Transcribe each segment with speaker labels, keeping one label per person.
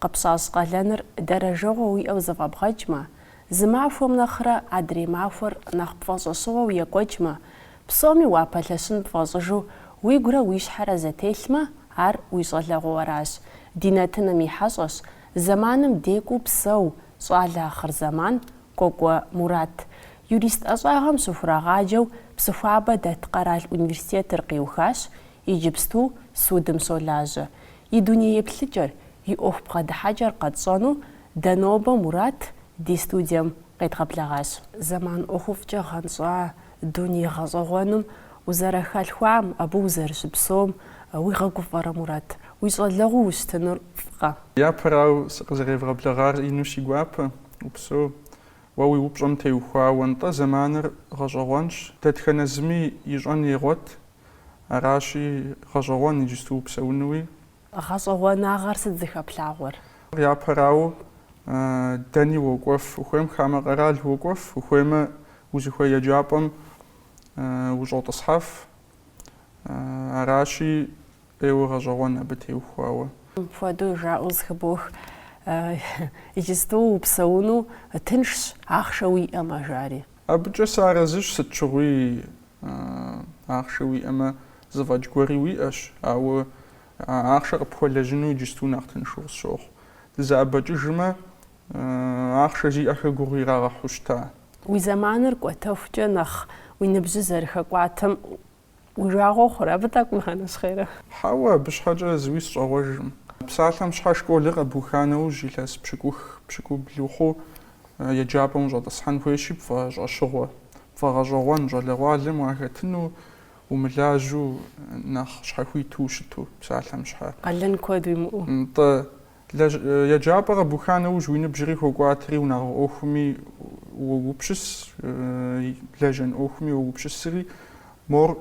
Speaker 1: Къыпщащӏ къалэныр дэрэжэгъуэ уиӏэу зэфӏэбгъэкӏмэ, зы махуэм нэхърэ адрей махуэр нэхъ пфӏэщӏэщыгъуэу екӏуэкӏмэ, псоми уапэлъэщын пфӏэщӏыжу уигурэ уи щхьэрэ зэтелъмэ, ар уи щӏалэгъуэращ, ди нэтынымм и хьэщӏэщ, зэманым декӏуу псэу, щӏалэ ахъырзэман, Кӏуэкӏуэ Мурат. Юрист ӏэщӏагъэм щыхурагъаджэу Псыхуабэ дэт къэрал университетыр къиухащ, Иджыпсту судым щолажьэ и дуней еплъыкӏэр, и ӏуэху бгъэдыхьэкӏэр къэтщӏэну дэ нобэ Мурат ди студием къедгъэблэгъащ. Зэман ӏуэхуфӏкӏэ гъэнщӏа дуней гъэщӏэгъуэным узэрыхэлъхуам, абы узэрыщыпсэум уигъэгуфӏэрэ, Мурат? Уи щӏалэгъуэу ущытынур фӏкъэ? Япэрауэ, сыкъызэревгъэблэгъар ину си гуапэ, упсэу. Уэ уи упщӏэм теухуауэ нтӏэ зэманыр гъэщӏэгъуэнщ, дэтхэнэ зыми ищӏэн егъуэт, Аращи, гъэщӏэгъуэнщ иджысту упсэунуи. Гъэщӏэгъуэнагъэр сыт зыхэплъагъуэр? Япэрауэ, дэни уокӏуэф ухуейм, хамэ къэрал уокӏуэф ухуеймэ, узыхуей еджапӏэм ущӏотӏысхьэф. Аращи, ӏейуэ гъэщӏэгъуэнщ абы теухуауэ. Мыпхуэдэу жаӏэу зыхыбох, иджысту упсэуну тыншщ, ахъшэ уиӏэмэ, жари. Абыкӏэ сыарэзыщ, сыт щыгъуи ахъшэ уиӏэмэ, зэфӏэкӏ гуэри уиӏэщ, ауэ а ахъшэр къыпхуэлэжьыну иджысту нэхъ тыншу къысщохъу. Дызэӏэбэкӏыжмэ, ахъшэ зиӏэхэр гугъу ирагъэхьу щыта? Уи зэманыр кӏуэтэхукӏэ нэхъ уи ныбжьыр зэрыхэкӏуатэм Уи жагъуэ хъурэ абы тӏэкӏу ущӏэнэщхъейрэ? Хьэуэ, абы щхьэкӏэ зыуи сыщӏегъуэжыркъым. Псалъэм щхьэ школыр къэбуха нэужь илъэс пщыкӏух, пщыкӏубл ухъуу еджапӏэм ущӏэтӏысхьэн хуейщи пфӏэщӏэщыгъуэ, пфӏэгъэщӏэгъуэн щӏалэгъуалэм уахэтыну, умылажьэу, нэхъ щхьэхуиту ущыту псалъэм щхьэ. Къалэн куэд уимыӏэу. Нтӏэ, Еджапӏэ къэбуха нэужь уи ныбжьри хокӏуатэри, унагъуэ ӏуэхуми уогупщыс, лэжьэн ӏуэхуми уогупщысри, мор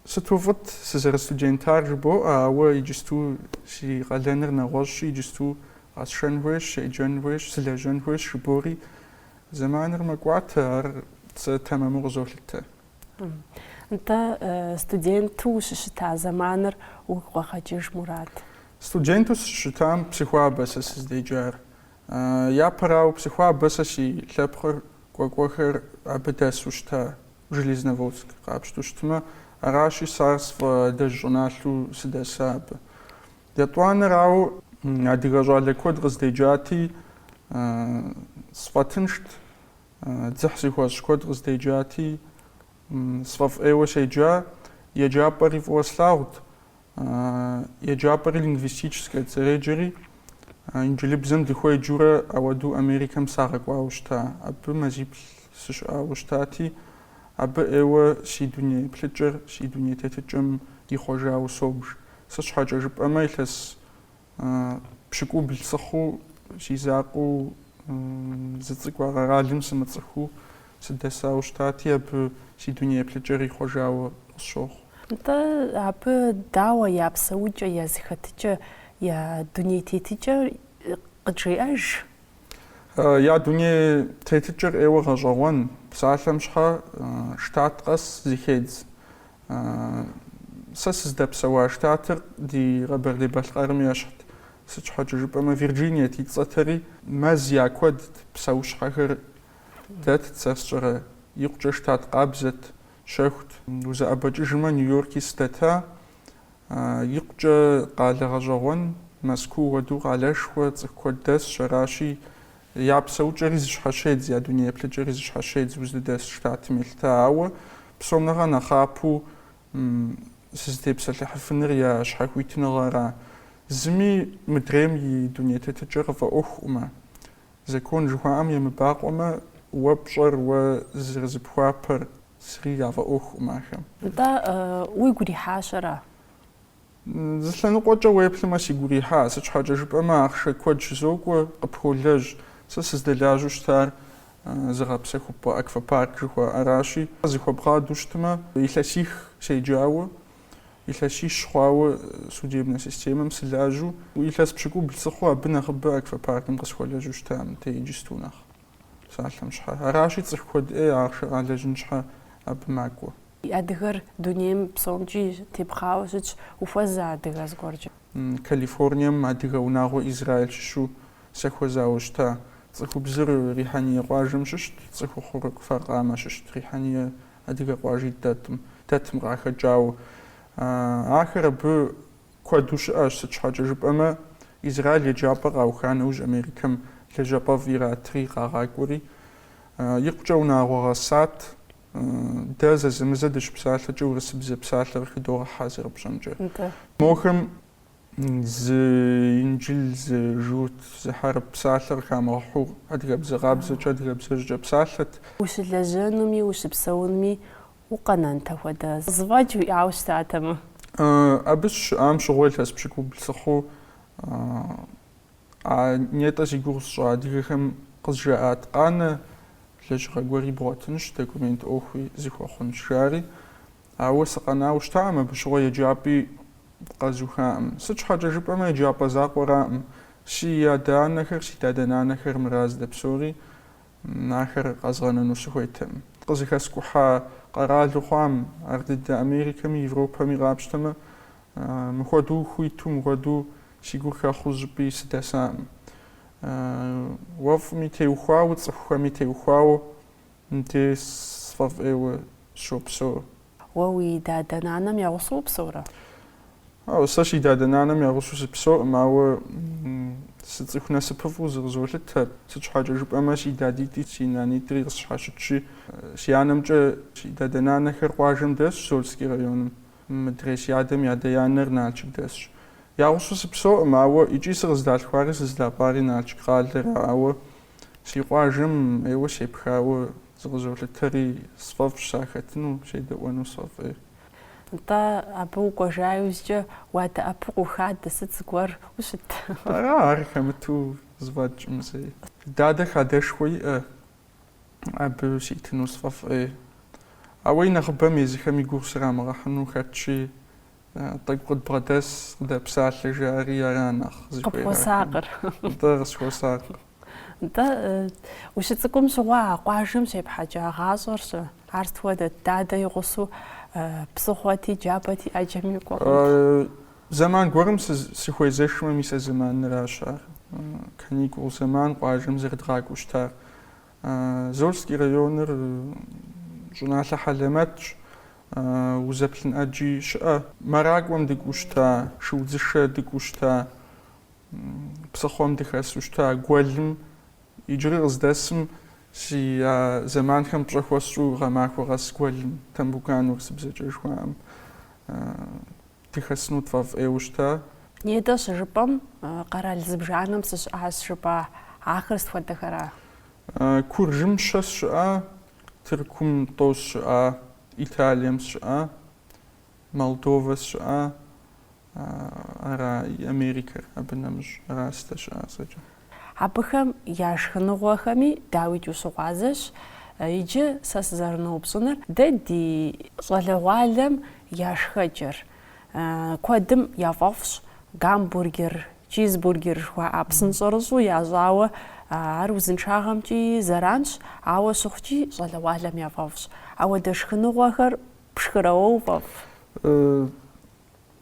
Speaker 1: сыту фӏыт сызэрыстудентар жыбоӏэ, ауэ иджысту си къалэныр нэгъуэщӏщи, иджысту къэсшэн хуейщ, седжэн хуейщ, сылэжьэн хуейщ жыбори, зэманыр мэкӏуатэ, ар сэ тэмэму къызолъытэ. Нтӏэ, студенту ущыщыта зэманыр уигу къэгъэкӏыж, Мурат? Студенту сыщыщытам Псыхуабэ сэ сыздеджар. Япэрауэ, Псыхуабэ сэ си лъэпкъыр кӏуэкӏуэхэр абы дэсу щыта, Железноводск къапщту щытмэ. Аращи, сэ ар сфӏэадэжь щӏыналъэу сыдэса абы. Етӏуанэрауэ, адыгэ щӏалэ куэд къыздеджати, сфӏэтыншт. Дзыхь сихуэщӏ куэд къыздеджати, сфӏэфӏ ӏейуэ седжа. Еджапӏэри фӏыуэ слъагъут. Еджапӏэри лингвистическэт зэреджэри, инджылыбзэм дыхуеджэурэ ауэдэу Америкэм сагъэкӏуауэ щыта. Абы мазиплӏ сыщыӏауэ щытати, абы ӏейуэ си дуней плъыкӏэр, си дуней тетыкӏэм ихъуэжауэ собж. Сыт щхьэкӏэ жыпӏэмэ, илъэс Пщыкӏубл сыхъуу, си закъуэу, зы цӏыху а къэралым сымыцӏыхуу сыдэсауэ щытати, абы си дуней еплъыкӏэр ихъуэжауэ къысщохъу. Нтӏэ, абы дауэ я псэукӏэ, я зэхэтыкӏэ, я дуней тетыкӏэ къыджеӏэж? Я дуней тетыкӏэр ӏейуэ гъэщӏэгъуэн, псалъэм щхьэ штат къэс зыхедз. Сэ сыздэпсэуа штатыр ди Къэбэрдей-Балъкъэрым ещхьт. Сыт щхьэкӏэ жыпӏэмэ, Вирджиниет и цӏэтэри мэз я куэдт, псэущхьэхэр дэтт, сэ сщӏэрэ, икъукӏэ штат къабзэт, щэхут. Узэӏэбэкӏыжмэ, Нью-Йорки сыдэта, икъукӏэ къалэ гъэщӏэгъуэн, Мэзкуу уэду къалэшхуэ цӏыху куэд дэсщ, аращи, Я псэукӏэри зыщхьэщедз, я дуней еплъыкӏэри зыщхьэщедз узыдэс штатым елъыта, ауэ псом нэхърэ нэхъапэу сызытепсэлъыхьыфыныр я щхьэхуитыныгъэра. Зыми мыдрейм и дуней тетыкӏэр къыфӏэӏуэхукъымэ, закон жыхуаӏэм емыбакъуэмэ, уэ пщӏэр, уэ зэрызыпхуапэр, зыри яфӏэӏуэхукъым ахэм. Нтӏэ, уигу ирихьащ ара? Зы лъэныкъуэкӏэ уеплъмэ, сигу ирихьа, сыт щхьэкӏэ жыпӏэмэ, ахъшэ куэд щызокӏуэ, къыпхолэжь. Сэ сыздэлажьэу щытар зыгъэпсэхупӏэ аквапарк жыхуаӏэращи, зэхуэбгъадэу щытмэ, илъэсих седжауэ, илъэсищ хъуауэ судебнэ системэм сылажьэу, илъэс пщыкӏубл сыхъуу абы нэхъыбэ аквапаркым къысхуэлэжьэу щыта мыдей иджысту нэхъ. Псалъэм щхьэ. Аращи, цӏыху куэд ӏей ахъшэ къалэжьын щхьэ абы макӏуэ. Адыгэр дунейм псомкӏи тепхъауэ щытщ. Ухуэза адыгэ зыгуэркӏэ? Калифорнием адыгэ унагъуэ Израиль щыщу сахуэзауэ щыта. Цӏыхубзыр Рихьэния къуажэм щыщт, цӏыхухъур Кфар-Къамэ щыщт. Рихьэния адыгэ къуажи дэтым, дэтым къахэкӏауэ. Ахэр абы Куэду щыӏэщ, сыт щхьэкӏэ жыпӏэмэ, Израил еджапӏэ къауха нэужь Америкэм лэжьапӏэфӏ иратри къагъакӏуэри, икъукӏэ унагъуэ гъэсат. Дэ зэзэмызэ дыщыпсалъэкӏэ урысыбзэ псалъэ къыхыдогъэхьэ, зэрыпщӏэмкӏэ. Мохэм зы инджыл, зы журт, зы хьэрып псалъэ къыхамыгъэхьу, адыгэбзэ къабзэкӏэ, адыгэбзэжькӏэ псалъэт. Ущылэжьэнуми, ущыпсэунми, Укъэнэнтэ хуэдэ зэфӏэкӏ уиӏауэ щытатэмэ? Абы сыщыщыӏам щыгъуэ илъэс пщыкӏубл сыхъуу а нетӏэ зи гугъу сщӏа адыгэхэм къызжаӏат, Къанэ, лэжьыгъэ гуэри бгъуэтынщ, документ ӏуэхуи зыхуэхъунщ, жари. Ауэ сыкъэнауэ щытакъым, абы щыгъуэ еджапӏи къэзухакъым. Сыт щхьэкӏэ жыпӏэмэ, еджапӏэ закъуэракъым. Си адэ-анэхэр, си дадэ-нанэхэр мыра здэпсэури Ахэр къэзгъэнэну сыхуейтэкъым. Къызыхэскӏухьа къэралу хъуам, ар дыдэ Америкэми Европэми къапщтэмэ, мыхуэдэу хуиту, мыхуэдэу си гур хэхъуу щӏыпӏи сыдэсакъым. Уэфӏми теухуауэ, цӏыхухэми теухуауэ мыбдеж сфӏэфӏейуэ сыщопсэу. Уэ уи дадэ-нанэм я гъусэу упсэурэ? Хьэуэ, сэ си дадэ-нанэм я гъусэу сыпсэуӏым, ауэ сыцӏыху насыпыфӏу зыкъызолъытэр. Сыт щхьэкӏэ жыпӏэмэ, си дадитӏи си нанитӏри къысщхьэщытщи, си анэмкӏэ си дадэ-нанэхэр къуажэм дэсщ, Зольский районым, мыдрей си адэм и адэ-анэр Налшык дэсщ. Я гъусэу сыпсэуӏым, ауэ икӏи сыкъыздалъхуари сыздапӏари Налшык къалэра, ауэ Си къуажэм ейуэ сепхауэ зыкъызолъытэри, сфӏэфӏщ сахэтыну, седэӏуэну сфӏэфӏей. Нтӏэ, абы укӏуэжа иужькӏэ уадэӏэпыкъуу хадэ, сыт зыгуэр ущыт? Ара ар хэмыту зэфӏэкӏӏым зэи? Дадэ хадэшхуэ иӏэ, абы ситыну сфӏэфӏей. Ауэ и нэхъыбэм езыхэми гугъу срамыгъэхьыну хэтщи, Тӏэкӏу къыдбгъэдэс, къыдэпсалъэ жаӏэри ара нэхъ зыхуейр ахэм. Къыпхуэсакъыр. Нтӏэ, къысхуэсакъыр. Нтӏэ, ущыцӏыкӏум щыгъуэ а къуажэм щепхьэкӏа гъащӏэр-щэ. Ар сыт хуэдэт, дадэ и гъусэу псыхъуэти, джабэти, ӏэджэми укӏуэ хъунт. Зэман гуэрым сыхуезэшмэ, мис а зэманыращ ар, каникул зэман къуажэм зэрыдгъакӏуэу щытар. Зольский районыр щӏыналъэ хьэлэмэтщ, узэплъын ӏэджи щыӏэ. Мэракӏуэм дыкӏуу щыта, шыудзышэ дыкӏуу щыта, псыхъуэм дыхэсу щыта, гуэлым, иджыри къыздэсым си а зэманхэм пщӏэ хуэсщӏу гъэмахуэ къэс гуэлым, Тамбукан урысыбзэкӏэ жыхуаӏэм. Дыхэсыну тфӏэфӏейуэ щыта? Нетӏэ щыжыпӏэм, къэрал зыбжанэм сыщыӏащ жыпӏа ахэр сыт хуэдэхэра? Куржым щэ сщыӏа? Тыркум тӏо сщыӏа? Италием сщыӏа? Молдовэ сщыӏа? Ара Америкэр абы нэмыщӏ? Ара сыздэщыӏар зэкӏэ? Абыхэм я шхыныгъуэхэми, дауикӏ, ущыгъуазэщ. Иджы сэ сызэрыноупщӏыныр дэ ди щӏалэгъуалэм я шхэкӏэр. Куэдым яфӏэфӏщ гамбургер, чизбургер жыхуаӏэ псынщӏэрыщӏу ящӏауэ. Ар узыншагъэмкӏи зэранщ, ауэ щыхъукӏи, щӏалэгъуалэм яфӏэфӏщ. Ауэдэ шхыныгъуэхэр пшхырэ уэ, уфӏэфӏ?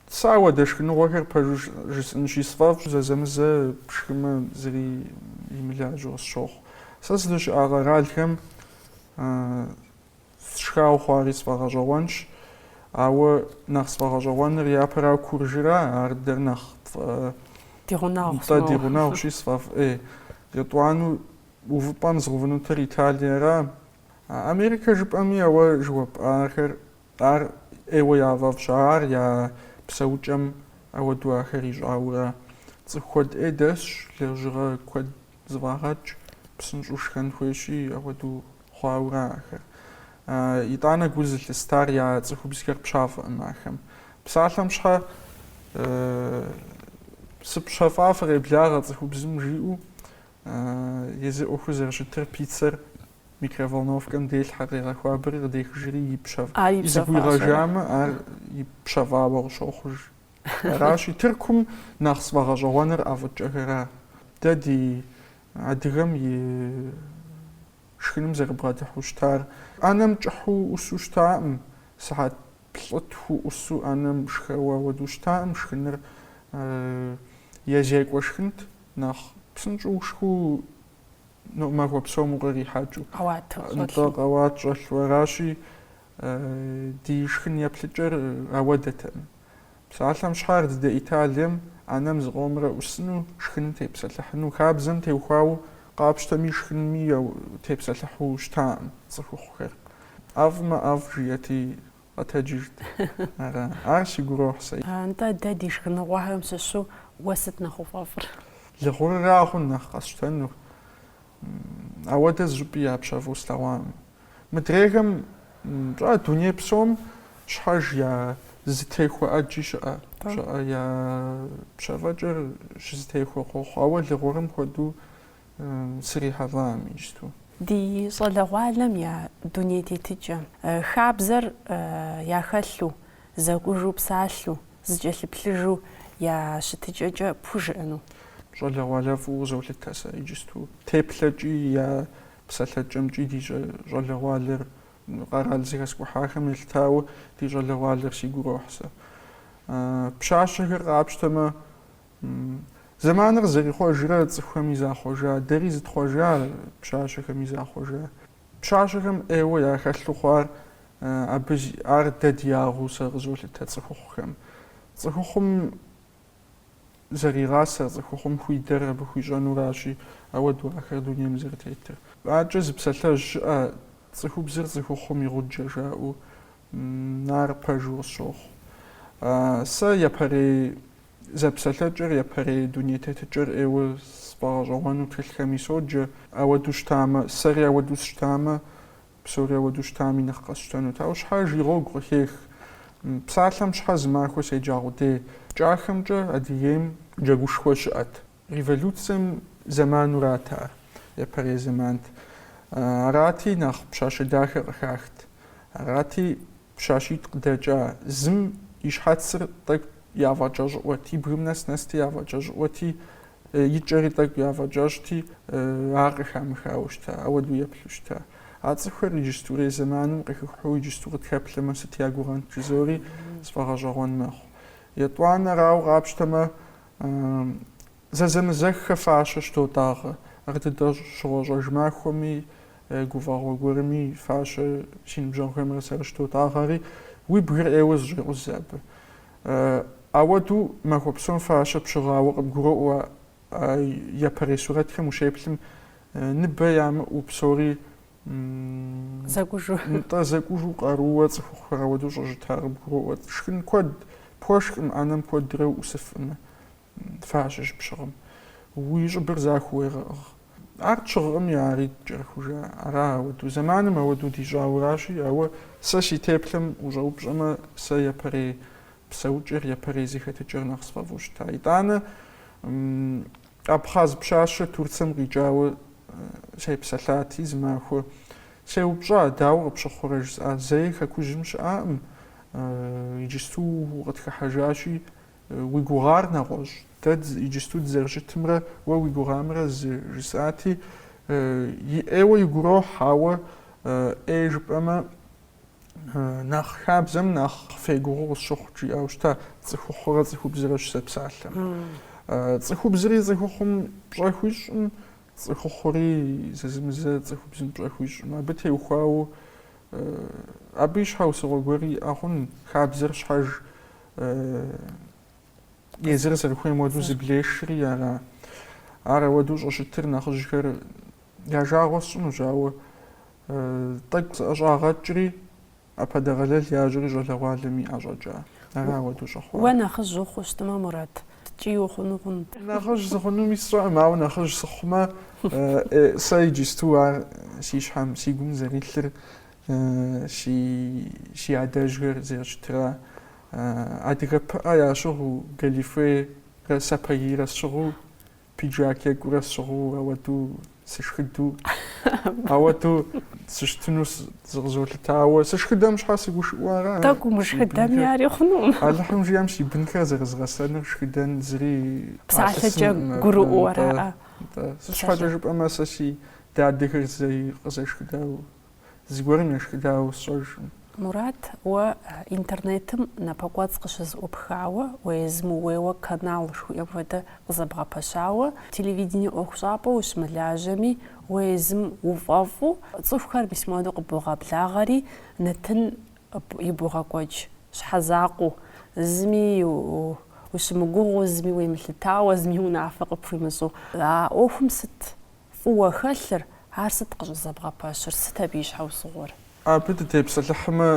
Speaker 1: Сэ ауэдэ шхыныгъуэхэр пэжу жысӏынщи, сфӏэфӏщ зэзэмызэ пшхымэ зыри имылажьэу къысщохъу. Сэ сызыщыӏа къэралхэм сшхауэ хъуари сфӏэгъэщӏэгъуэнщ, ауэ нэхъ сфӏэгъэщӏэгъуэныр япэрауэ Куржыра, ар дэр нэхъ Ди гъунэгъущ. Нтӏэ, ди гъунэгъущи сфӏэфӏ. Ей, етӏуанэу увыпӏэм згъэувынутыр Италиера. Америкэ жыпӏэми а уэ жыуэпӏахэр Ар ӏейуэ яфӏэфӏщ, ар я псэукӏэм ауэду ахэр ищӏаурэ. Цӏыху куэд ӏей дэсщ, лэжьыгъэ куэд зэфӏагъэкӏ, псынщӏэу шхэн хуейщи, ауэду хъуаурэ ахэр. Итӏанэ гу зылъыстар я цӏыхубзхэр пщафӏэкъым ахэм. Псалъэм щхьэ сыпщэфӏа фыкъеблагъэ цӏыхубзым жиӏэу Езы ӏуэхур зэрыщытыр пиццэр микроволновкэм делъхьэ, къегъэхуабэри къыдехыжри ипщэфӏ зэгуигъэжамэ, ар ипщэфӏауэ къыщохъуж. Аращи, Тыркум нэхъ сфӏэгъэщӏэгъуэныр ӏэфӏыкӏэхэра. Дэ ди адыгэм и шхыным зэрыбгъэдыхьу щытар ӏэнэм кӏыхьу ӏусу щытаӏым, сыхьэт плӏытху ӏусу ӏэнэм шхэуэ ауэду щытаӏым, шхыныр е зекӏуэ шхынт. Нэхъ псынщӏэу ушхэу махуэ псом укърихьэкӏыу. Къэуат щӏэлъу. Нтӏэ, къэуат щӏэлъу. Аращи, ди шхын еплъыкӏэр ауэдэтэкъым. Псалъэм щхьэ ар дыдэ Италием ӏэнэм зыкъомрэ ӏусыну, шхыным тепсэлъыхьыну, хабзэм теухуауэ къапщтэми шхынми тепсэлъыхьу щытакъым цӏыхухъухэр. ӏэфӏмэ ӏэфӏ жиӏэти, Къэтэджыжт. Ара? Ар сигу ирохь сэ. Нтӏэ, дэ ди шхыныгъуэхэм щыщу уэ сыт нэхъ уфӏэфӏыр? Лыгъурырагъэн нэхъ къэсщтэнур. Ауэдэ зыщӏыпӏи япщэфӏу слъэгъуакъым. Мыдрейхэм пщӏа дуней псом щхьэж я зытехуэ ӏэджи щыӏэ, щыӏэ я пщэфӏэкӏэр щызытехуэ къохъу. Ауэ лыгъурым хуэдэу Срихьэлӏаӏым иджыпсту. Ди щӏалэгъуалэм я дуней тетыкӏэм, хабзэр яхэлъу, зэкӏужу псалъу, зыкӏэлъыплъыжу я щытыкӏэкӏэ пхужыӏэну. Щӏалэгъуалэ фӏыуэ къызолъытэ сэ иджыпсту. Теплъэкӏи, я псалъэкӏэмкӏи ди щӏалэгъуалэр къэрал зыхэскӏухьахэм елъытауэ ди щӏалэгъуалэр сигу ирохь сэ. Пщащэхэр къапщтэмэ, Зэманыр зэрихъуэжрэ цӏыхухэми захъуэжа, дэри зытхъуэжа, пщащэхэми захъуэжа. Пщащэхэм ӏейуэ яхэлъу хъуар абы ар дэ ди ягъэу сэ къызолъытэ цӏыхухъухэм. Цӏыхухъум зэригъасэр, цӏыхухъум хуидэр абы хуищӏэнуращи, ауэду ахэр дунейм зэрытетыр. Аркӏэ зы псалъэжь щыӏэ, Цӏыхубзыр цӏыхухъум и гъуджэ жаӏэу. Ар пэжу къысщохъу. Сэ япэрей Зэпсэлъэкӏэр, япэрей дуней тетыкӏэр ӏейуэ сфӏэгъэщӏэгъуэну тхылъхэми соджэ. Ауэду щытамэ, сэри ауэду сщытамэ, псори ауэду щытами нэхъ къэсщтэнут. Ауэ щхьэж и гъуэгу къыхех. Псалъэм щхьэ зы махуэ седжагъу дей? Кӏахэмкӏэ Адыгейм джэгушхуэ щыӏэт. Революцэм зэманурат ар, япэрей зэмант. Арати, нэхъ пщащэ дахэ къыхахт. Арати, пщащитӏ къыдэкӏа зым и щхьэцыр тӏэкӏу яфӏэкӏэщӏыӏуэт, и бгым нэс-нэсти яфӏэкӏэщӏыӏуэти, и кӏэри тӏэкӏу яфӏэкӏэщӏти, ар къыхамыхауэ щыта, ауэдэу еплъу щыта. А цӏыхухэр иджыстурей зэманым къыхыхьу иджысту къытхэплъэмэ, сыт я гугъэнт жызори сфӏэгъэщӏэгъуэн мэхъу. Етӏуанэрауэ къапщтэмэ, Зэзэмызэххэ фащэ щыдотӏагъэ. Ар дыдэ щыгъуэ-щӏэж махуэми, гуфӏэгъуэ гуэрми фащэ си ныбжьэгъухэмрэ сэрэ щыдотӏагъэри, уи бгыр ӏейуэ зыщӏекъузэ абы. Ауэду махуэ псом фащэ пщыгъауэ къыбгуроӏуэ а япэрей сурэтхэм ущеплъым, ныбэ ямыӏэу псори Зэкӏужу. Нтӏэ, зэкӏужу къарууэ цӏыхухъухэр ауэдэу щӏыщыта къыбгуроӏуэ. Шхын куэд пхуэшхкъым, ӏэнэм куэдрэ уӏусыфӏым фащэ щыпщыгъым. Уи щӏыбыр захуэу уегъэӏыгъ. Ар тщыгъыӏыми, ари ткӏэрыхужа. Ара ауэдэу? Зэманым ауэдэу дищӏауращи, ауэ сэ си теплъэм ущӏэупщӏэмэ, сэ япэрей псэукӏэр, япэрей зэхэтыкӏэр нэхъ сфӏэфӏу щыта. Итӏанэ, Абхъаз пщащэ Турцэм къикӏауэ сепсэлъати, зы махуэ сеупщӏа, дауэ къыпщыхъурэ жысӏа, зэи хэкужьым щыӏакъым, иджысту укъытхыхьэжащи, уи гугъар нэгъуэщӏ, дэ иджысту дызэрыщытымрэ уэ уи гугъамрэ зы, жысӏати, и ӏейуэ игу ирохь, ауэ ӏей жыпӏэмэ, Нэхъ хабзэм нэхъ фегугъу къысщыхъу жиӏауэ щыта, цӏыхухъурэ цӏыхубзрэ щызэпсалъэм. Цӏыхубзри цӏыхухъум пщӏэ хуищӏым, цӏыхухъури зэзэмызэ цӏыхубзым пщӏэ хуищӏым. Абы теухуауэ абы и щхьэусыгъуэ гуэри иӏэ хъун, хабзэр щхьэж езыр зэрыхуейм уэду зыблешри ара. Ар ауэду щӏыщытыр нэхъыжьхэр Я жагъуэ сщӏынущ, ауэ тӏэкӏу сыӏэщӏагъэкӏри, апхуэдэ гъэлэл яжьэри щӏалэгъуалэми ӏэщӏэкӏа. Ара ауэдэу щӏыхъуар? Уэ нэхъыжь ухъуу щытмэ, Мурат, ткӏий ухъуну хъун? Нэхъыжь сыхъунуми сщӏэкъым, ауэ нэхъыжь сыхъумэ, сэ иджысту ар си щхьэм, си гум зэрилъыр си адэжьхэр зэрыщытара. Адыгэ пыӏэ ящыгъыу, галифейрэ сапагийрэ сщыгъыу Пиджак екӏурэ сщыгъыу ауэду сышхыду, ауэду сыщытыну зыкъызолъыта, ауэ сышхыдэм щхьэ сыгушыӏэу ара? Тӏэкӏу умышхыдэми ари хъунукъым. Алыхьым жиӏэм си бынхэр зэрызгъэсэныр шхыдэн зыри Псалъэкӏэ гурыӏуэу ара? Сыт щхьэкӏэ жыпӏэмэ сэ си дадэхэр зэи къызэшхыдауэ Зыгуэрым ешхыдауэ сщӏэжкъым. Мурат, уэ интернетым напэкӏуэцӏ къыщызэӏупхауэ, уэ езым ууейуэ канал жыхуиӏэм хуэдэ къызэбгъэпэщауэ, телевидение ӏуэхущӏапӏэу ущымылажьэми, уэ езым уфӏэфӏу, цӏыхухэр мис муэду къыбогъэблагъэри, нэтын ибогъэкӏуэкӏ щхьэ закъуэу, зыми ущымыгугъыу, зыми уемылъытауэ, зыми унафэ къыпхуимыщӏу. А ӏуэхум сыт Фӏыуэ хэлъыр, ар сыт къыщӏызэбгъэпэщыр, сыт абы и щхьэусыгъуэр? Абы дытепсэлъыхьмэ,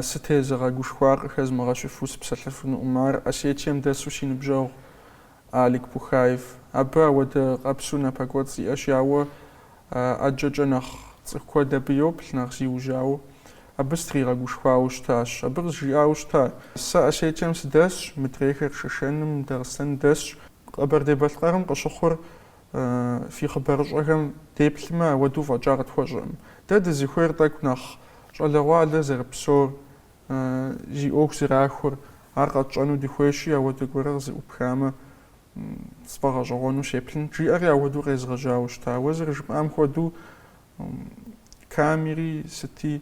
Speaker 1: сытезыгъэгушхуар къыхэзмыгъэщыфу сыпсэлъыфынукъым, ар Осетием дэсу си ныбжьэгъу Алик Пухаев. Абы ауэдэ къабзэу напэкӏуэцӏ иӏэщи, ауэ ӏэджэкӏэ нэхъ цӏыху куэд абы йоплъ, нэхъ зиужьауэ. Абы сытригъэгушхуауэ щытащ. Абы къызжиӏауэ щыта, Сэ Осетием сыдэсщ, мыдрейхэр Шэшэным, Дагъыстэн дэсщ. Къэбэрдей-Балъкъэрым къыщыхъур Фи хъыбарыщӏэхэм деплъмэ, ауэдэу фӏэкӏа къытхуэщӏэркъым. Дэ дызыхуейр тӏэкӏу нэхъ щӏалэгъуалэр зэрыпсэур, зи ӏуэху зэрахуэр, ар къэтщӏэну дыхуейщи, ауэдэ гуэрэ къызэӏупхамэ, сфӏэгъэщӏэгъуэну сеплъынт, жиӏэри ауэдэу къезгъэжьауэ щыта. Уэ зэрыжыпӏам хуэдэу, Камери сыти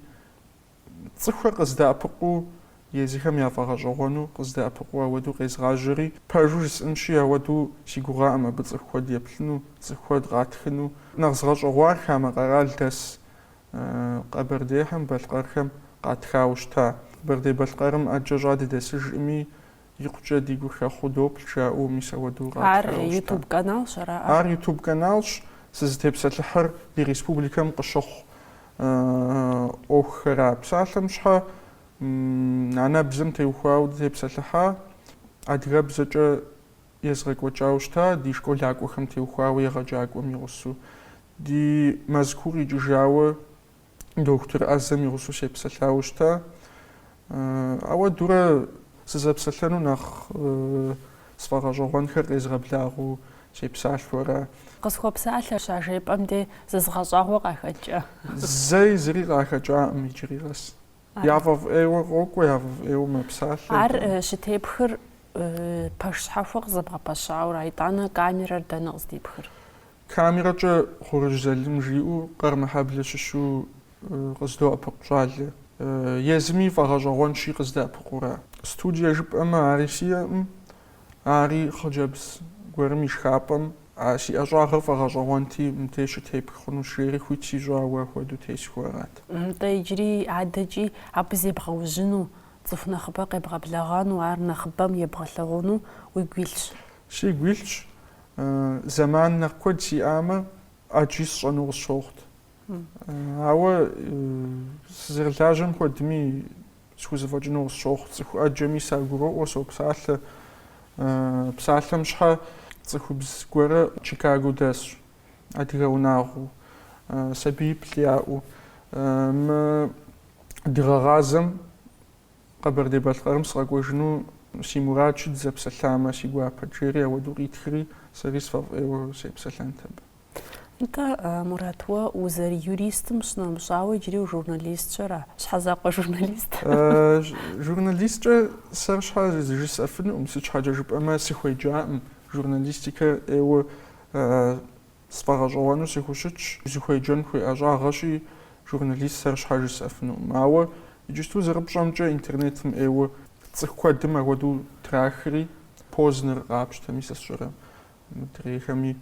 Speaker 1: Цӏыхухэр къыздэӏэпыкъуу, езыхэм яфӏэгъэщӏэгъуэну къыздэӏэпыкъуу ауэдэу къезгъажьэри, пэжу жысӏэнщи, ауэдэу си гугъакъым абы цӏыху куэд еплъыну, цӏыху куэд къатхыну. Нэхъ згъэщӏэгъуар хамэ къэрал дэс Къэбэрдейхэм, балъкъэрхэм къатхауэ щыта. Къэбэрдей-Балъкъэрым ӏэджэ щӏа дыдэсыжкъыми, Икъукӏэ ди гур хэхъуу доплъ, жаӏэу мис ауэдэу къатхыурэ Ар ущта? ютуб каналщ ара? Ар ютуб каналщ, сызытепсэлъыхьыр ди республикэм къыщыхъу ӏуэхухэра, псалъэм щхьэ анэбзэм теухуауэ дытепсэлъыхьа, адыгэбзэкӏэ езгъэкӏуэкӏауэ щыта, ди школакӏуэхэм теухуауэ егъэджакӏуэм и гъусэу, ди Мэзкуу къикӏыжауэ, дохутыр ӏэзэм игъусэу сепсэлъауэ щыта. Ауэдэурэ сызэпсэлъэну нэхъ сфӏэгъэщӏэгъуэнхэр къезгъэблагъэу сепсалъэу ара. Къысхуэпсалъэ щажепӏэм де зызыгъэщӏагъуэ къахэкӏа? Зэи зыри къахэкӏакъым иджыри къэс. Яфӏэфӏ ӏейуэ къокӏуэ, яфӏэфӏ ӏейуэ мэпсалъэ. Ар щытепхыр пэш щхьэхуэ къызэбгъэпэщауэ ара, итӏанэ камерэр дэнэ къыздипхыр? Камерэкӏэ Хъурыжь Залым жиӏэу Къэрмыхьэблэ щыщу къыздоӏэпыкъу щӏалэ. Езыми фӏэгъэщӏэгъуэнщи къыздэӏэпыкъуу ара. Студие жыпӏэмэ ари сиӏэкъым, ари хъыджэбз гуэрым и шхапӏэм, а си ӏэщӏагъэр фӏэгъэщӏэгъуэнти мыбдеж щытепх хъунущ жери хуит сищӏауэ апхуэдэу тесхыу арат. Нтӏэ иджыри адэкӏи абы зебгъэужьыну, цӏыху нэхъыбэ къебгъэблэгъэну, ар нэхъыбэм ебгъэлъэгъуну уигу илъщ? Сигу илъщ, Зэман нэхъ куэд сиӏамэ, ӏэджи сщӏэну къысщохъут. Ауэ сызэрылажьэм хуэдми схузэфӏэкӏыну къысщохъу. Цӏыху ӏэджэми сагуроӏуэ, сопсалъэ. Псалъэм щхьэ цӏыхубз гуэрэ Чикаго дэсщ, адыгэ унагъуэу, сабииплӏ яӏэу. Мы дыгъэгъазэм Къэбэрдей-Балъкъэрым сыкъэкӏуэжыну си мурадщ, дызэпсэлъамэ, си гуапэт, жери ауэдэу къитхри, сэри сфӏэфӏ ӏейуэ сепсэлъэнт абы. Нтӏэ, Мурат, уэ узэрыюристым щынэмыщӏауэ, иджыри ужурналистщ, ара? Щхьэзакъуэ журналист? Журналисткӏэ сэр щхьэ жысӏэфынукъым, сыт щхьэкӏэ жыпӏэмэ, сыхуеджакъым журналистикэ ӏейуэ Сфӏэгъэщӏэгъуэну сыхущытщ, узыхуеджэн хуей ӏэщӏагъэщи, журналист сэр щхьэ жысӏэфынукъым. Ауэ иджысту зэрыпщӏэмкӏэ интернетым ӏейуэ цӏыху куэдым ахуэдэу трахри, Познер къапщтэми, сэ сщӏэрэ мыдрейхэми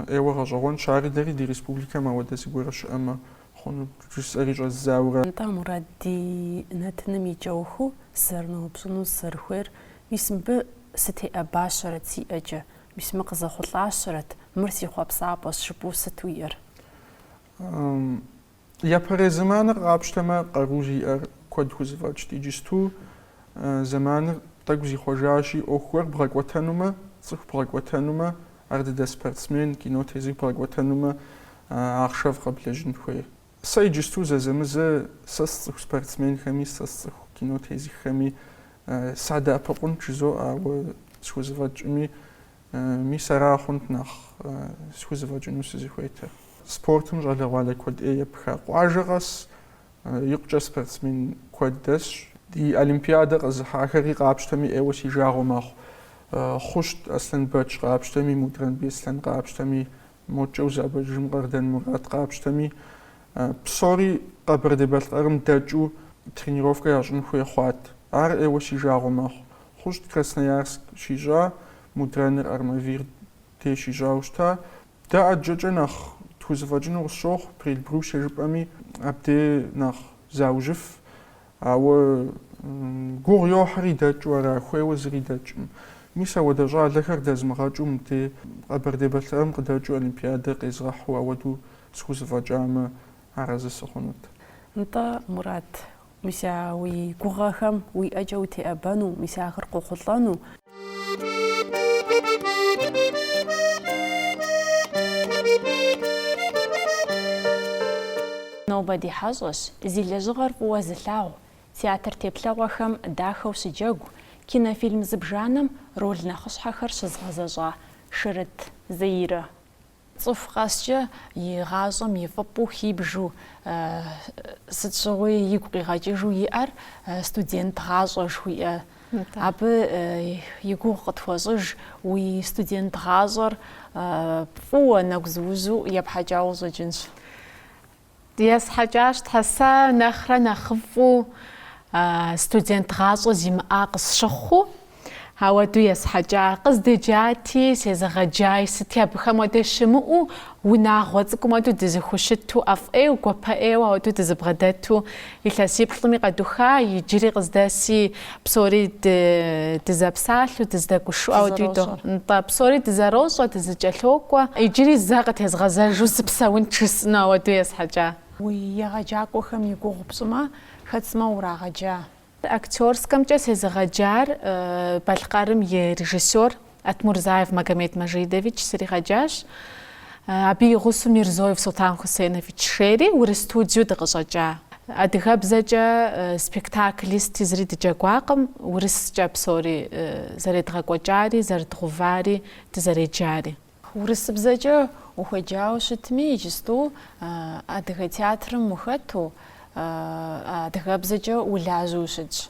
Speaker 1: ӏейуэ гъэщӏэгъуэнщ, ари дэри ди республикэм ауэдэ зыгуэр щыӏэмэ хъуну жысӏэри щӏэздзауэ ара. Атӏэ, Мурат, ди нэтыным и кӏэухыу сызэрыноупщӏыну сызэрыхуейр, мис мыбы сытеӏэбащэрэт си ӏэкӏэ, Мис мы къызэхъулӏащэрэт, мыр си хъуэпсапӏэщ жыпӏэу сыт уиӏэр? Япэрей зэманыр къапщтэмэ, къару зиӏэр куэд хузэфӏэкӏт. Иджысту зэманыр тӏэкӏу зихъуэжащи, ӏуэху гуэр бгъэкӏуэтэнумэ, цӏыху бгъэкӏуэтэнумэ, ар дыдэ спортсмен, кино тезых бгъэкӏуэтэнумэ ахъшэфӏ къэблэжьын хуей. Сэ иджысту зэзэмызэ сэ сцӏыху спортсменхэми, сэ сцӏыху кино тезыххэми садэӏэпыкъунт жызоӏэ, ауэ схузэфӏэкӏми, мис ара хъунт нэхъ схузэфӏэкӏыну сызыхуейтэр. Спортым щӏалэгъуалэ куэд ӏей епха. Къуажэ къэс икъукӏэ спортсмен куэд дэсщ. Ди Олимпиадэ къэзыхьахэри къапщтэми ӏейуэ си жагъуэ мэхъу. Хъущт Аслъэнбэч къапщтэми, Мудрэн Беслъэн къапщтэми, Мокӏэ узэӏэбэкӏыжым Къардэн Мурат къапщтэми, псори Къэбэрдей-Балъкъэрым дэкӏыу тренировкэ ящӏын хуей хъуат. Ар ӏейуэ си жагъуэ мэхъу. Хъущт Красноярск щищӏа, Мудрэныр Армавир дей щищӏауэ щыта. Дэ ӏэджэкӏэ нэхъ тхузэфӏэкӏыну къысщохъу, Приэльбрусье жыпӏэми, абдей нэхъ заужьыф Ауэ гугъу йохьри дэкӏыу ара хуейуэ зыри дэкӏым. Мис ауэдэ щӏалэхэр дэзмыгъэкӏыу мыде Къэбэрдей-Балъкъэрым къыдэкӏыу олимпиадэ къезгъэхьу ауэду схузэфӏэкӏамэ, арэзы сыхъунут. Нтӏэ, Мурат, мис а уи гугъэхэм уи ӏэкӏэ утеӏэбэну, мис ахэр къохъулӏэну. Нобэ ди хьэщӏэщ зи лэжьыгъэр фӏыуэ зылъагъу, театр теплъэгъуэхэм дахэу щыджэгу, кинофильм зыбжанэм роль нэхъыщхьэхэр щызгъэзэщӏа Шырыт Заирэ. Цӏыху къэскӏэ и гъащӏэм и фӏыпӏэу хибжу, сыт щыгъуи игу къигъэкӏыжу иӏэр студент гъащӏэ жыхуиӏэ. Абы и гугъу къытхуэщӏыж уи студент гъащӏэр фӏыуэ нэгузыужьу епхьэкӏауэ щӏэкӏынщ. Есхьэкӏащ Тхьэ, сэ нэхърэ нэхъыфӏу студент гъащӏэ зимыӏа къысщыхъуу, ауэду есхьэкӏа. Къыздеджати, сезыгъэджай, сыти абыхэм уэдэ щымыӏэу, унагъуэ цӏыкӏум уэду дызыхущыту, ӏэфӏ ӏейу, гуапэ ӏейуэ ауэду дызыбгъэдэту Илъэсиплӏми къэдуха, иджыри къыздэси, псори дызэпсалъэу, дыздэгушыӏэу, ауэдуи дохъу. Нтӏэ, псори дызэрощӏэ, дызыкӏэлъокӏуэ. Иджыри зэ къытезгъэзэжу сыпсэунт жысӏэну ауэдэу есхьэкӏа. Уи егъэджакӏуэхэм и гугъу пщӏымэ, хэт сымэ урагъэджа? Актерскэмкӏэ сезыгъэджар Балъкъэрым и режиссёр Атмурзаев Магомед Мажидович сригъэджащ. Абы и гъусэу Мирзоев Султан Хусеновичри урыс студиеу дыкъыщӏэкӏа. Адыгэбзэкӏэ спектакли сыти зыри дыджэгуакъым, урыскӏэ псори зэредгъэкӏуэкӏари, зэрыдгъэувари, дызэреджари. Урысыбзэкӏэ ухуеджауэ щытми, иджысту адыгэ театрым ухэту, адыгэбзэкӏэ улажьэу ущытщ.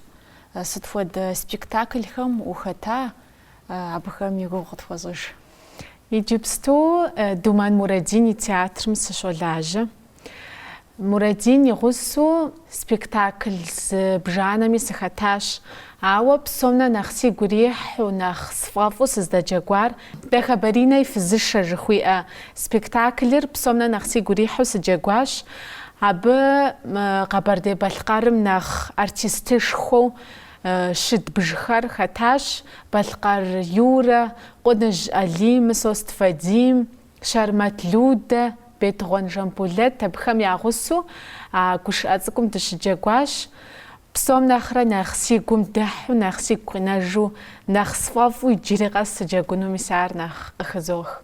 Speaker 1: Сыт хуэдэ спектаклхэм ухэта, абыхэм и гугъу къытхуэщӏыж. Иджыпсту Думэн Мурадин и театрым сыщолажьэ. Мурадин и гъусэу спектакль зыбжанэми сыхэтащ, ауэ псом нэ нэхъ сигу ирихьу, нэхъ сфӏэфӏу сыздэджэгуар Дахэбаринэ и фызышэ жыхуиӏэ спектаклыр псом нэ нэхъ сигу ирихьу сыджэгуащ. Абы Къэбэрдей-Балъкъэрым нэхъ артистышхуэу Щыдбжхэр хэтащ Балъкъэр Юрэ, Къуныжь Алим, Мысост Вадим, Щэрмэт Людэ, Бетыгъуэн Жамбулэт. Абыхэм я гъусэу а гушыӏэ цӏыкӏум дыщыджэгуащ. Псом нэхърэ нэхъ си гум дыхьу, нэхъ сигу къинэжу, нэхъ сфӏэфӏу иджыри къэс сыджэгуну мис ар нэхъ къыхызох.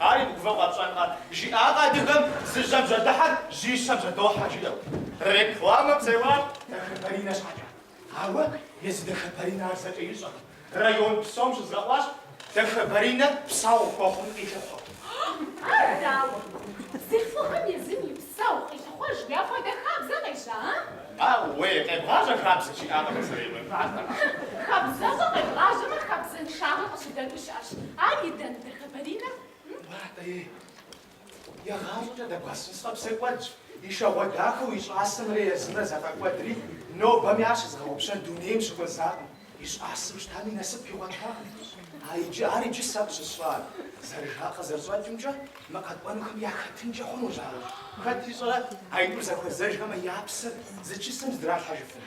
Speaker 1: Ар и мыгувэу къэпщӏэнкъэ? жиӏакъэ адыгэм, зы жьэм жьэдыхьэр жьищэм жьэдохьэ жиӏэу. Рекламэ псэуар Дахэбаринэ щхьэкӏэ. Ауэ езы Дахэбаринэ ар зэкӏэ ищӏэкъым. Район псом щызэӏуащ Дахэбаринэ псэгъу хуэхъун къилъыхъуэу. Ар дауэ? Бзылъхугъэм езым и псэгъу къилъыхъуэжу апхуэдэ хабзэ къещӏа, а? Ауэ, къебгъажьэр хабзэщ жиӏакъэ пасэрейм? Хы, хабзэщӏэ къебгъажьэмэ хабзэншагъэ къыщыдэну щыӏэщ. Ар и дэндрэ? хэбаринэ? Муратэ, ей, игъащӏэкӏэ дэгуэсын сфӏэпсэкӏуэдщ, и шэгъуэ дахэу и щӏасэмрэ езымрэ зэфӏэкӏуэдри, нобэми ар щызыгъэгъупщэн дунейм щыхуэзакъым. И щӏасэм щытами насып игъуэтакъым. А иджы, ар иджы сэ къыщысщӏар, зэрыжакъэ зэрыщӏэкӏымкӏэ, мы къэкӏуэнухэм яхэтынкӏэ хъунущ ар. Хэт ищӏэрэ, аитӏур зэхуэзэжхэмэ я псэр зы чысэм здралъхьэжыфыну?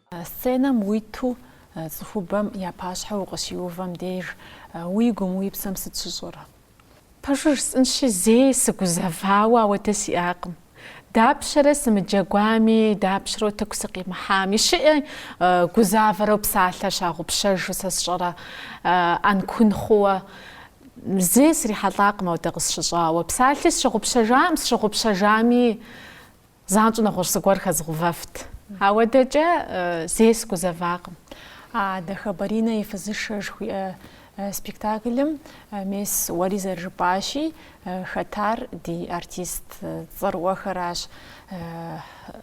Speaker 1: Сценэм уиту цӏыхубэм я пащхьэ укъыщиувэм деж уи гум, уи псэм сыт щыщӏэр? Пэжу жысӏынщи, зэи сыгузэвауэ ауэдэ сиӏакъым. Дапщэрэ сымыджэгуами, дапщэрэ утыку сыкъимыхьами, щыӏэ гузавэрэу псалъэр щагъупщэжу сэ сщӏэрэ ӏэнкун хъууэ? Зэи срихьэлӏакъым ауэдэ къысщыщӏауэ. Псалъи сщыгъупщэжакъым, сщыгъупщэжами, Занщӏэу нэгъуэщӏ зыгуэр хэзгъэувэфт. Ауэдэкӏэ зэи сыгузэвакъым. А Дахэбаринэ и фызышэ жыхуиӏэ спектаклым мес уэри зэрыжыпӏащи, хэтар ди артист цӏэрыӏуэхэращ.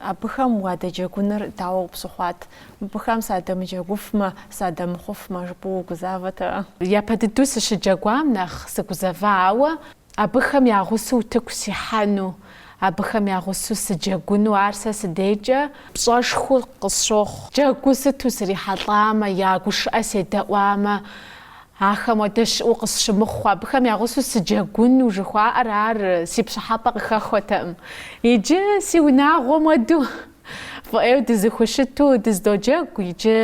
Speaker 1: Абыхэм уадэджэгуныр дауэ пщыхъуат? Мыбыхэм садэмыджэгуфмэ, садэмыхъуфмэ жыпӏэу угузавэтэкъэ? Япэ дыдэу сыщыджэгуам нэхъ сыгузэва, ауэ Абыхэм я гъусэу утыку сихьэну, абыхэм я гъусэу сыджэгуну ар сэ си дейкӏэ пщӏэшхуэу къысщохъу. Джэгуу сыту срихьэлӏамэ, я гушыӏэ седэӏуамэ, ахэм уэдэ щыӏэу къысщымыхъу. Абыхэм я гъусэу сыджэгуну жыхуаӏэр ар си пщӏыхьэпӏэ къыхэхуэтэкъым. Иджы си унагъуэм уэду фӏы ӏейуэ дызыхущыту дызэдоджэгу, иджы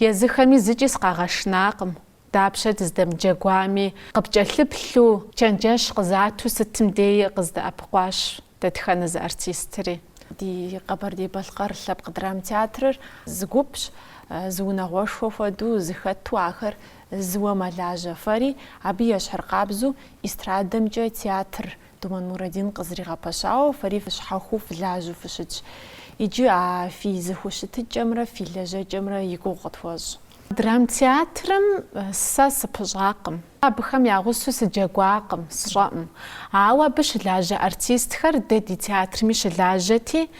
Speaker 1: езыхэми зыкӏи сыкъагъэшынакъым. Дапщэ дыздэмыджэгуами, къыпкӏэлъыплъу, чэнджэщ къызату сытым деи къыздэӏэпыкъуащ дэтхэнэ зы артистри. Ди Къэбэрдей-Балъкъэр лъэпкъ драм театрыр зы гупщ, зы унагъуэшхуэ хуэдэу зыхэту ахэр зыуэ мэлажьэ. Фэри абы ещхьыркъабзу эстрадэмкӏэ театр Думэн Мурадин къызригъэпэщауэ фэри фыщхьэхуу фылажьэу фыщытщ. Иджы а фи зыхущытыкӏэмрэ фи лэжьэкӏэмрэ и гугъу къытхуэщӏ. Драмтеатрым сэ сыпыщӏакъым, абыхэм я гъусэу сыджэгуакъым, сщӏэкъым. Ауэ абы щылажьэ артистхэр дэ ди театрми щылажьэти,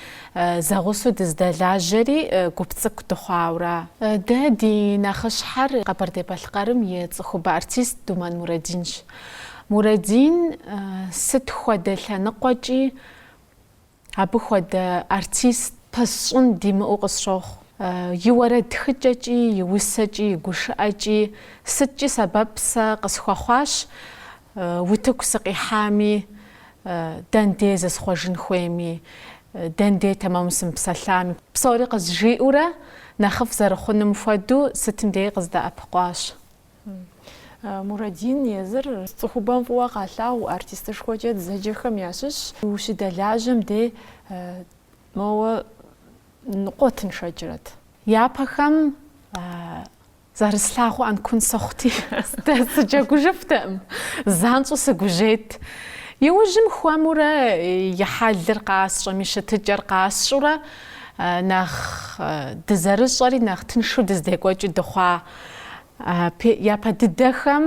Speaker 1: зэгъусэу дыздэлажьэри гуп цӏыкӏу дыхъуауэ. Дэ ди нэхъыщхьэр Къэбэрдей-Балъкъэрым и цӏыхубэ артист Думэн Мурэдинщ. Мурэдин сыт хуэдэ лъэныкъуэкӏи Абы хуэдэ артист пэсщӏын димыӏэу къысщохъу. И уэрэд тхыкӏэкӏи, и усэкӏи, и гушыӏэкӏи сыткӏи сэбэп сэ къысхуэхъуащ утыку сыкъихьами, дэн дей зысхъуэжын хуейми, дэн дей тэмэму сымыпсэлъами. Псори къызжиӏэурэ, нэхъыфӏ зэрыхъунум хуэдэу сытым деи къыздэӏэпыкъуащ. Мурадин езыр цӏыхубэм фӏыуэ къалъагъу артистышхуэкӏэ дызэджэхэм ящыщ. Ущыдэлажьэм дей моуэ ныкъуэ тыншэкӏрэт. Япэхэм зэрыслъагъуу ӏэнкун сыхъути, сыджэгужыфтэкъым, занщӏэу сыгужьейт. Иужьым хуэмурэ и хьэлыр къасщӏэм, и щытыкӏэр къасщӏурэ нэхъ дызэрыщӏэри нэхъ тыншу дыздекӏуэкӏыу дыхъуа. Япэ дыдэхэм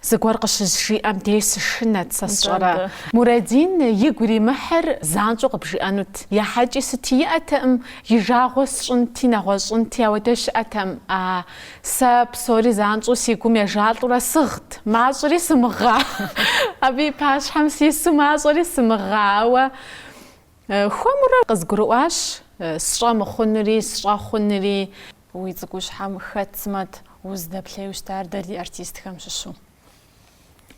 Speaker 1: зыгуэр къыщызжиӏэм деж сышынэт, сэ сщӏэрэ. Мурадин игу иримыхьыр занщӏэу къыбжиӏэнут. Ехьэкӏи сыти иӏэтэкъым, и жагъуэ сщӏынти, нэгъуэщӏынти, апхуэдэ щыӏэтэкъым. А, сэ псори занщӏэу си гум ежалӏурэ сыгът, мащӏэри сымыгъа. Абы и пащхьэм сису мащӏэри сымыгъа, ауэ Хуэмурэ къызгурыӏуащ сщӏэ мыхъунури, сщӏэ хъунури. Уи цӏыкӏущхьэм хэт сымэт узыдэплъеу щытар дэ ди артистхэм щыщу?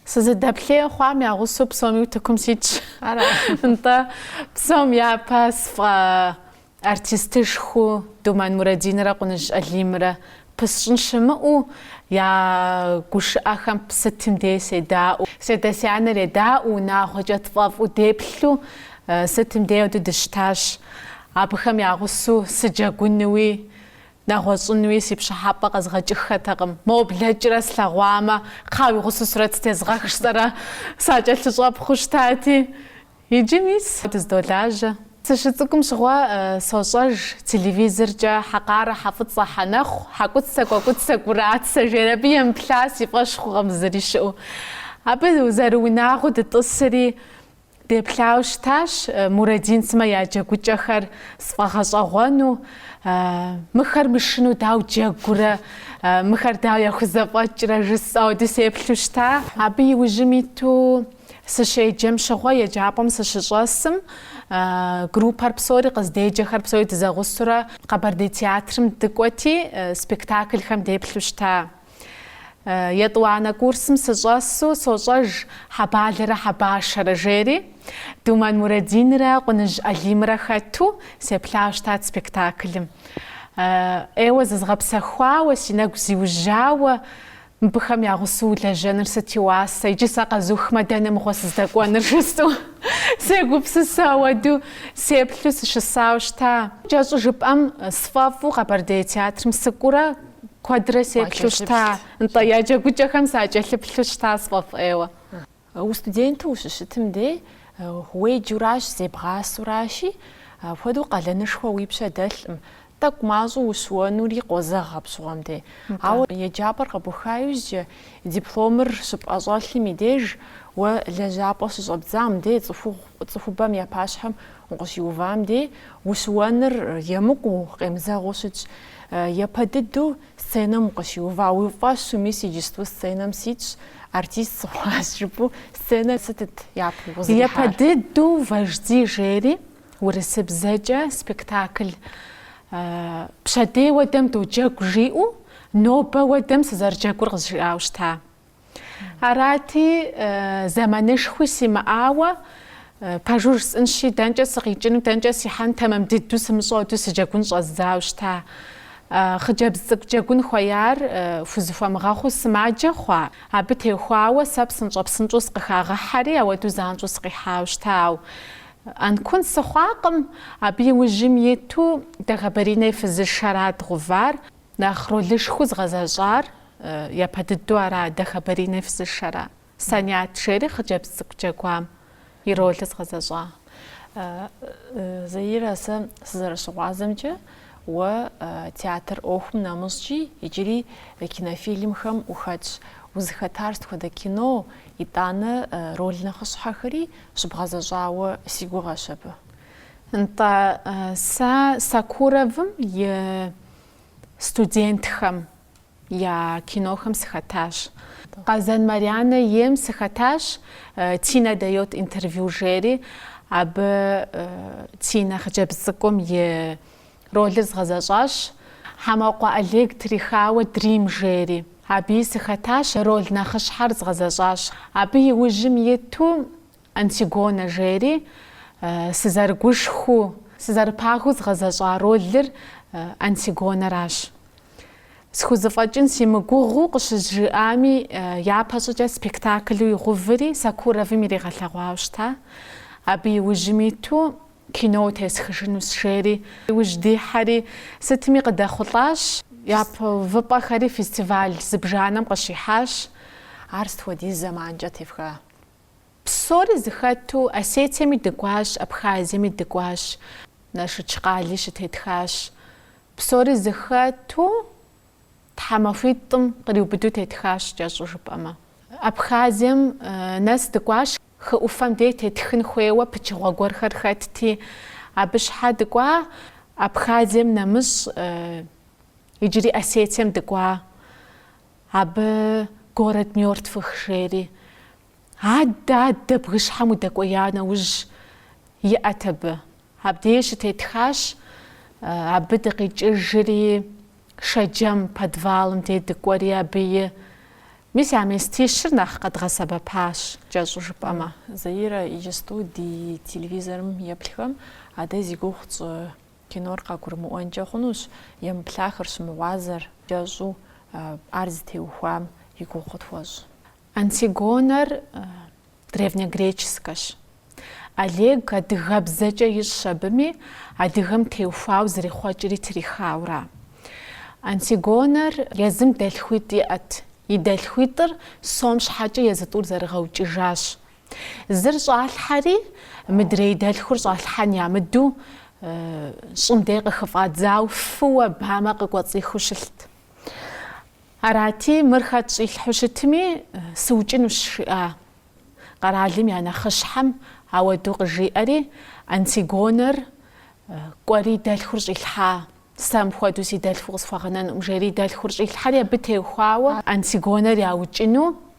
Speaker 1: Сызыдэплъеу хъуам я гъусэу псоми утыкум ситщ. Ара? Нтӏэ, псом япэ сфӏэартистышхуэу Думэн Мурэдинрэ Къуныжь Алимрэ Пэсщӏын щымыӏэу я гушыӏэхэм сытым дей седаӏуэу. Си адэ-си анэр едаӏуэу, унагъуэкӏэ тфӏэфӏу деплъу сытым дей апхуэдэу дыщытащ. Абыхэм я гъусэу сыджэгунуи, нэгъуэщӏынуи си пщӏыхьэпӏэ къэзгъэкӏыххэтэкъым. Моуэ блэкӏрэ слъэгъуамэ, кхъыӏэ уи гъусэу сурэт зытезгъэх жысӏэрэ, сакӏэлъыщӏэпхъуэу щытати, Иджы мис дыздолажьэ. Сыщыцӏыкӏум щыгъуэ сощӏэж телевизоркӏэ Хьэкъарэ, Хьэфӏыцӏэ, Хьэнэхъу, Хьэкуцэ, Кӏуэкӏуцэ, Кӏурацэ, жери абы емыплъа си фӏэщ хъукъым зыри щыӏэу. Абы зэрыунагъуэу дытӏысри, деплъауэ щытащ Мурадин сымэ я джэгукӏэхэр сфӏэгъэщӏэгъуэну, мыхэр мышыну дауэ джэгурэ, мыхэр дауэ яхузэфӏэкӏрэ жысӏэу, ауэду сеплъу щыта. Абы иужьым иту Сыщеджэм щыгъуэ еджапӏэм сыщыщӏэсым, группэр псори, къыздеджэхэр псори дызэгъусурэ Къэбэрдей театрым дыкӏуэти, спектаклхэм деплъу щыта. Етӏуанэ курсым сыщӏэсу сощӏэж Хьэбалэрэ Хьэбашэрэ жери, Думэн Мурадинрэ Къуныжь Алимрэ хэту сеплъа щытат спектаклым. ӏейуэ зызгъэпсэхуауэ, си нэгу зиужьауэ Мыбыхэм я гъусэу улэжьэныр сыт и уасэ, иджы сэ къэзухмэ, дэнэ мыгъуэ сыздэкӏуэныр? жысӏэу сегупсысэ, ауэду сеплъу сыщысауэ щыта. Кӏэщӏу жыпӏэм, сфӏэфӏу Къэбэрдей театрым сыкӏуурэ куэдрэ сеплъу щыта, нтӏэ, я джэгукӏэхэм сакӏэлъыплъу щыта сфӏэфӏ ӏейуэ. Устуденту ущыщытым де, уеджуращ, зебгъасуращи, апхуэдэу къалэнышхуэ уи пщэ дэлъкъым, тӏэкӏу мащӏэу ущыуэнури къозэгъ апщыгъуэм де. Ауэ еджапӏэр къэбуха иужькӏэ, дипломыр щыпӏэщӏэлъым и деж, уэ лэжьапӏэ щыщӏэбдзам де, цӏыхубэм я пащхьэм укъыщиувам де, ущыуэныр емыкӏуу, къемызэгъыу щытщ. Япэ дыдэу Сценэм укъыщиува, уи фӏэщу, мис иджысту сценэм ситщ, артист сыхъуащ, жыпӏэу, сценэр сытыт япэу укъызэрихьар? Япэ дыдэу Вожди жери, урысыбзэкӏэ спектакль Пщэдей уэдэм доджэгу жиӏэу, нобэ уэдэм сызэрыджэгур къызжиӏауэ щыта. Арати, зэманышхуи симыӏауэ, пэжу жысӏэнщи, дэнкӏэ сыкъикӏыну, дэнкӏэ сихьэну тэмэм дыдэу сымыщӏэу ауэду сыджэгун щӏэздзауэ щыта. Хъыджэбз цӏыкӏу джэгун хуеяр хузыхуэмыгъэхъуу сымаджэ хъуа? Абы техуауэ сэ псынщӏэ-псынщӏэу сыкъыхагъэхьэри, ауэдэу занщӏэу сыкъихьауэ щыта. Ауэ ӏэнкун сыхъуакъым. Абы и ужьым иту Дэхэбаринэ и фызышэрат дгъэувар. Нэхъ ролышхуэу згъэзэщӏар япэ дыдэу ара, Дэхэбаринэ фызышэра. Санят жери хъыджэбз цӏыкӏу джэгуам и ролыр згъэзэщӏа. Заира, сэ сызэрыщыгъуазэмкӏэ, уэ театр ӏуэхум нэмыщӏкӏи иджыри кинофильмхэм ухэтщ. Узыхэтар сыт хуэдэ кино, итӏанэ роль нэхъыщхьэхэри щыбгъэзэщӏауэ си гугъэщ абы. Нтӏэ, сэ Сокуровым и студентхэм я кинохэм сыхэтащ. Къазэн Марьянэ ейм сыхэтащ, Тина дает интервью жери, абы Тина хъыджэбз цӏыкӏум и ролыр згъэзэщӏащ. Хьэмэкъуэ Олег трихауэ Дрим жери, абыи сыхэтащ, роль нэхъыщхьэр згъэзэщӏащ. Абы иужьым иту Антигонэ жери, сызэрыгушхыу, сызэрыпагэу згъэзэщӏа ролыр Антигонэращ. Схузэфӏэкӏын симыгугъыу къыщызжыӏами, япэщӏыкӏэ спектаклу игъуври Сокуровым иригъэлъэгъуауэ щыта. Абы иужьым иту киноуэ тесхыжынущ, жери, иужь дихьэри, сытми къыдэхъулӏащ. Япэ увыпӏэхэри фестиваль зыбжанэм къыщихьащ. Ар сыт хуэдиз зэманкӏэ тефха? Псори зыхэту Осетиеми дыкӏуащ, Абхазиеми дыкӏуащ. Налшыч къали щытетхащ. Псори зыхэту тхьэмахуитӏым къриубыду тетхащ, кӏэщӏу жыпӏэмэ. Абхазием нэс дыкӏуащ, хы ӏуфэм деж тетхын хуейуэ пычыгъуэ гуэрхэр хэтти, абы щхьэ дыкӏуа. Абхазием нэмыщӏ иджыри Осетием дыкӏуа. Абы Город мертвых жери. Адэ, адэ, бгыщхьэм удэкӏуея нэужь, иӏэт абы. Абдеж щытетхащ, абы дыкъикӏыжри, Шэджэм, подвалым дей дыкӏуэри абыи. Мис а местищыр нэхъ къэдгъэсэбэпащ, кӏэщӏу жыпӏэмэ. Заира иджысту ди телевизорым еплъхэм, а дэ зи гугъу тщӏы. Кинор къагурымыӏуэнкӏэ хъунущ емыплъахэр щымыгъуазэр кӏэщӏу ар зытеухуам и гугъу къытхуэщӏ. Антигонэр древнегреческэщ. Олег адыгэбзэкӏэ ищӏщ абыми, адыгэм теухуау зэрихъуэкӏри трихаура. Антигонэр езым дэлъхуитӏ иӏэт. И дэлъхуитӏыр сом щхьэкӏэ езы тӏур зэрыгъэукӏыжащ. Зыр щӏалъхьэри, мыдрей дэлъхур щӏалъхьэн ямыду, щӏым дей къыхыфӏадзау фыуэ бамэ къыкӏуэцӏихыу щылът. Арати, мыр хэт щӏилъхьу щытми, сыукӏынущ, жиӏа къэралым я нэхъыщхьэм ауэду къыжиӏэри, Антигонэр кӏуэри дэлъхур щӏилъхьа, сэ мыпхуэдэу си дэлъху къысхуэгъэнэнукъым, жери дэлъхур щӏилъхьэри, абы теухуауэ Антигонэр яукӏыну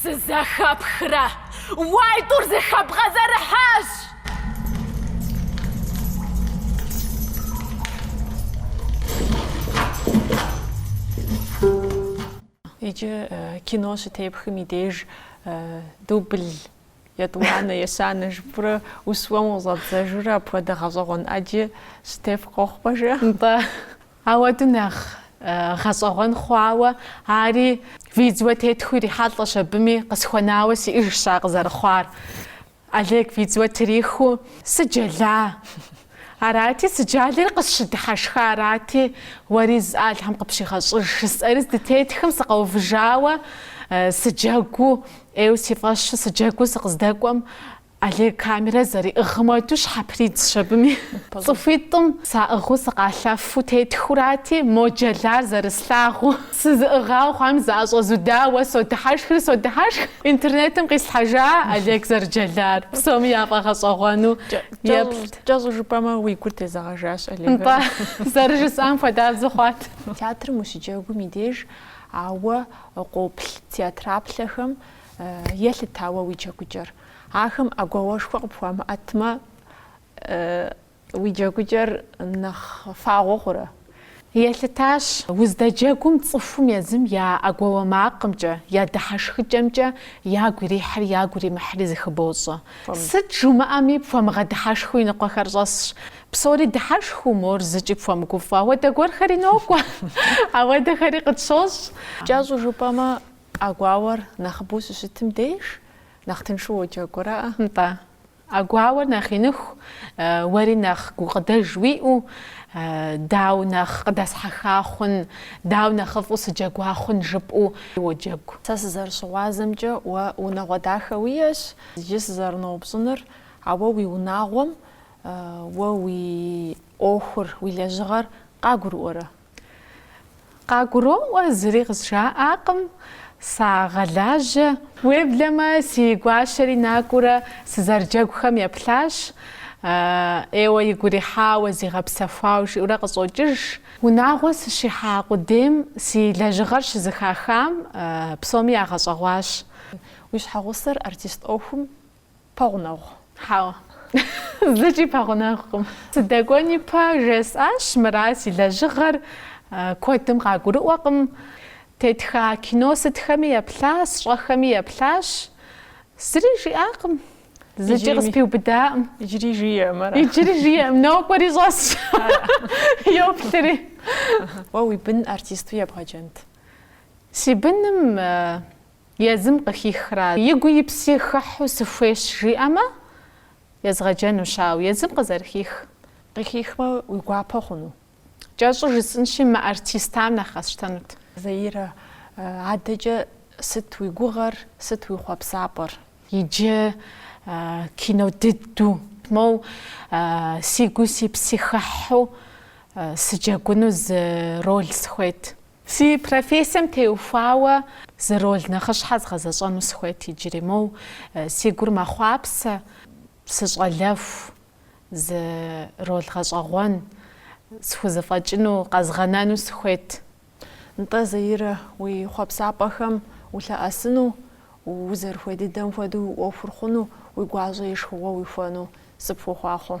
Speaker 1: Сызэхэпхрэ? Уай, тӏур зыхэбгъэзэрыхьащ! Иджы кино щытепхым и деж дубль етӏуанэ, ещанэ жыпурэ ущыуэм къыщӏэбдзэжурэ апхуэдэ гъэщӏэгъуэн ӏэджи щытеф къохъу, пэжкъэ. Нтӏэ. Ауэдэ нэхъ гъэщӏэгъуэн хъуауэ ари видео тетхыу ирихьэлӏэщ абыми, къысхуэнауэ сиӏыжщ ар къызэрыхъуар. Олег видео трихыу сыджэла арати, сыджалэри къысщыдыхьэшха арати, уэри зы Алхьэм къыпщигъэщӏыж жысӏэри здытетхым сыкъэувыжауэ сыджэгуу ӏейуэ си фӏэщу сыджэгуу сыкъыздэкӏуэм Олег камерэ зэриӏыгъмэду щхьэпридзщ абыми. Цӏыхуитӏым саӏыгъыу сыкъалъэфу тетхурати, мо джэлар зэрыслъагъуу, сызыӏыгъауэ хъуам зыӏэщӏэзудауэ содыхьэшхри содыхьэшх. Интернетым къислъхьэжа Олег зэрыджэлар псоми яфӏэгъэщӏэгъуэну еплът. Кӏэщӏу жыпӏэмэ, уи гур тезэгъэжащ Олегым. Нтӏэ, зэрыжысӏам хуэдабзэу хъуат. Театрым ущыджэгум и деж а уэ къоплъ театраплъэхэм Елъыта уэ уи джэгукӏэр? Ахэм ӏэгуауэшхуэ къыпхуамыӏэтмэ, уи джэгукӏэр нэхъ фагъуэ хъурэ? Елъытащ, Уздэджэгум цӏыхум езым я ӏэгуауэ макъымкӏэ, я дыхьэшхыкӏэмкӏэ ягу ирихьри ягу иримыхьри зыхыбощӏэ. Сыт жумыӏэми, пхуэмыгъэдыхьэшхыу и ныкъуэхэр щӏэсщ. Псори дыхьэшхыу, мор зыкӏи пхуэмыгуфӏэ. Ауэдэ гуэрхэри нокӏуэ, ауэдэхэри къытщощӏ. Кӏэщӏу жыпӏэмэ. ӏэгуауэр нэхъыбэу щыщытым деж нэхъ тыншу уоджэгурэ? Нтӏэ. ӏэгуауэр нэхъ иныху, уэри нэхъ гукъыдэж уиӏэу, дауэ нэхъ къыдэсхьэха хъун, дауэ нэхъыфӏу сыджэгуа хъун жыпӏэу уоджэгу. Сэ сызэрыщыгъуазэмкӏэ, уэ унагъуэ дахэ уиӏэщ. Иджы сызэрыноупщӏынур, а уэ уи унагъуэм, уэ уи ӏуэхур, уи лэжьыгъэр къагурыӏуэрэ? Къагуроӏуэ, зыри къызжаӏакъым, сагъэлажьэ. Уеблэмэ, си гуащэри накӏуэрэ сызэрыджэгухэм еплъащ, ӏейуэ игу ирихьауэ, зигъэпсэхуауэ жиӏэурэ къыщӏокӏыж. Унагъуэ сыщихьа къудейм си лэжьыгъэр щызыхахам псоми ягъэщӏэгъуащ. Уи щхьэгъусэр артист ӏуэхум Пэгъунэгъу? Хьэуэ. Зыкӏи пэгъунэгъукъым. Сыдэкӏуэни пэ, жесӏащ мыра си лэжьыгъэр куэдым къагурыӏуэкъым. Тетха кино сытхэми еплъащ, сщӏэхэми еплъащ. Зыри жиӏакъым. Зыкӏи къыспиубыдакъым. Иджыри жиӏэкъым, ара? Иджыри жиӏэкъым. Нокӏуэри щӏэсщ. Йоплъри. Уэ уи бын артисту ебгъэджэнт? Си быным Езым къыхихра, и гуи и пси хыхьу сыхуейщ жиӏэмэ, езгъэджэнущ, ауэ езым къызэрыхих. Къыхихмэ, уи гуапэ хъуну? Кӏэщӏу жысӏынщи, мыартистам нэхъ къэсщтэнут. Заирэ, адэкӏэ сыт уи гугъэр, сыт уи хъуэпсапӏэр? Иджы кино дыдэу. Моу, си гуи си пси хыхьу сыджэгуну зы роль сыхуейт. Си профессием теухуауэ зы роль нэхъыщхьэ згъэзэщӏэну сыхуейт иджыри, моу си гур мэхъуапсэ сыщӏалэху зы роль гъэщӏэгъуэн, схузэфӏэкӏыну, къэзгъэнэну сыхуейт. Нтӏэ, Заирэ, уи хъуэпсапӏэхэм улъэӏэсыну, узэрыхуей дыдэм хуэдэу уи ӏуэхур хъуну, уи гуащӏэ и шхыгъуэ уихуэну сыпхуохъуахъуэ.